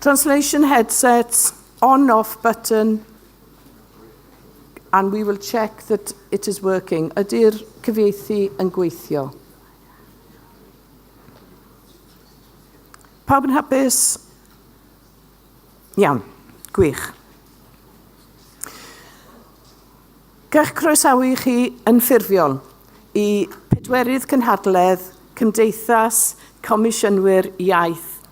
Translation headsets, on off button, and we will check that it is working. Ydy'r cyfieithu yn gweithio? Pawb yn hapus? Iawn, gwych. Gall groesawu chi yn ffurfiol i pedwerydd cynhadledd Cymdeithas Comisiynwyr Iaith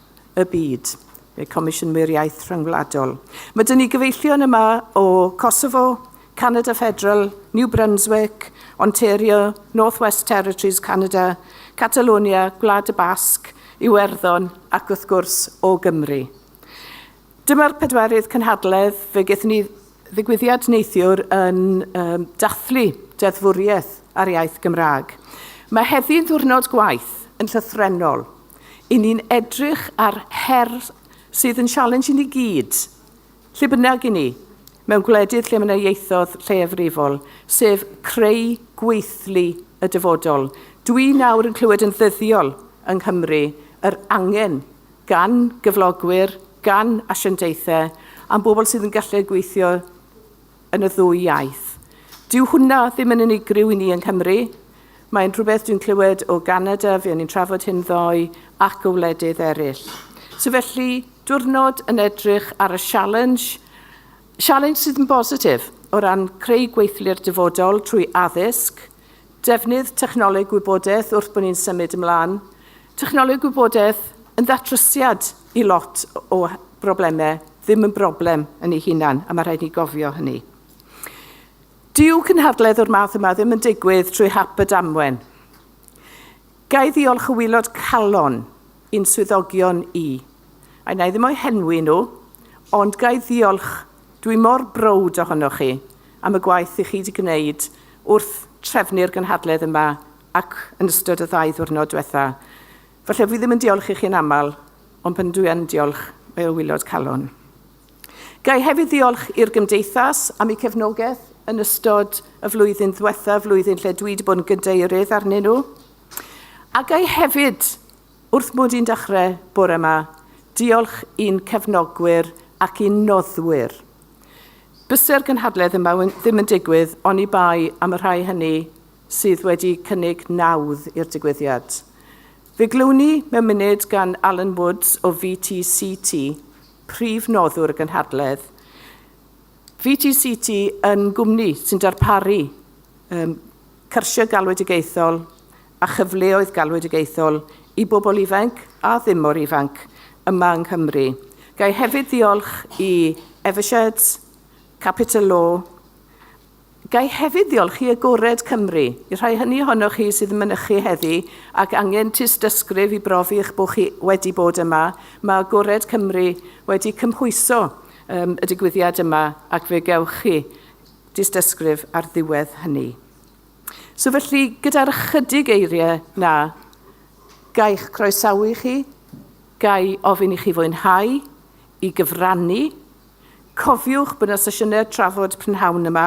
y Byd, neu Comisiynwyr Iaith Rhyngwladol. Mae dyn ni gyfeillion yma o Kosovo, Canada Federal, New Brunswick, Ontario, North West Territories, Canada, Catalonia, Gwlad y Basg, Iwerddon ac wrth gwrs o Gymru. Dyma'r pedwerydd cynhadledd fe gaethon ni ddigwyddiad neithiwr yn um, dathlu deddfwriaeth ar iaith Gymraeg. Mae heddi'n ddiwrnod gwaith yn llythrenol. I ni'n edrych ar her sydd yn sialens i ni gyd, lle bynnag i ni, mewn gwledydd lle mae yna ieithoedd lleiafrifol, sef creu gweithlu y dyfodol. Dwi nawr yn clywed yn ddyddiol yng Nghymru yr angen gan gyflogwyr, gan asiantaethau a'n bobl sydd yn gallu gweithio yn y ddwy iaith. Dyw hwnna ddim yn unigryw i ni yng Nghymru. Mae'n rhywbeth dwi'n clywed o Ganada, fe o'n i'n trafod hyn ddoe, ac o wledydd eraill. So felly, diwrnod yn edrych ar y sialens, sialens sydd yn bositif o ran creu gweithlu'r dyfodol trwy addysg, Defnydd technoleg gwybodaeth wrth bod ni'n symud ymlaen. Technoleg gwybodaeth yn ddatrysiad i lot o broblemau, ddim yn broblem yn ei hunan, a mae rhaid ni gofio hynny. Dyw cynhadledd o'r math yma ddim yn digwydd trwy hap y damwen. Gai ddiolch y wylod calon i'n swyddogion i, a na i ddim o'i henwi nhw, ond gai ddiolch Dwi mor browd ohonoch chi am y gwaith i chi 'di gwneud wrth trefnu'r gynhadledd yma ac yn ystod y ddau ddiwrnod diwetha. Falle fi ddim yn diolch i chi'n aml, ond pan dwi yn diolch, mae o wylod calon. Ga i hefyd ddiolch i'r Gymdeithas am eu cefnogaeth yn ystod y flwyddyn ddiwetha, flwyddyn lle dwi wedi bod yn gydeirydd arnyn nhw. A ga i hefyd Wrth mod i'n dechrau bore 'ma, diolch i'n cefnogwyr ac i'n noddwyr. Byse'r gynhadledd yma ddim yn digwydd oni bai am y rhai hynny sydd wedi cynnig nawdd i'r digwyddiad. Fe glywn ni mewn munud gan Alan Woods o VTCT, prif noddwr y gynhadledd. VTCT yn gwmni sy'n darparu um, cyrsiau galwedigaethol a chyfleoedd galwedigaethol i bobl ifainc a ddim mor ifanc yma yng Nghymru. Ga i hefyd ddiolch i Evershed, Capital Law, Ga i hefyd ddiolch i Agored Cymru, i'r rhai hynny ohonoch chi sydd yn mynychu heddi ac angen tystysgrif i brofi eich bod chi wedi bod yma, mae Agored Cymru wedi cymhwyso um, y digwyddiad yma ac fe gewch chi dystysgrif ar ddiwedd hynny. So felly, gyda'r ychydig eiriau na, gaich croesawu i chi, gai ofyn i chi fwynhau, i gyfrannu. Cofiwch bod yna sesiynau trafod prynhawn yma.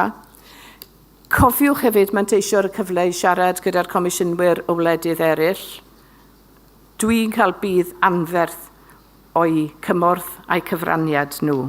Cofiwch hefyd manteisio ar y cyfle i siarad gyda'r comisiynwyr o wledydd eraill. Dwi'n cael budd anferth o'i cymorth a'i cyfraniad nhw.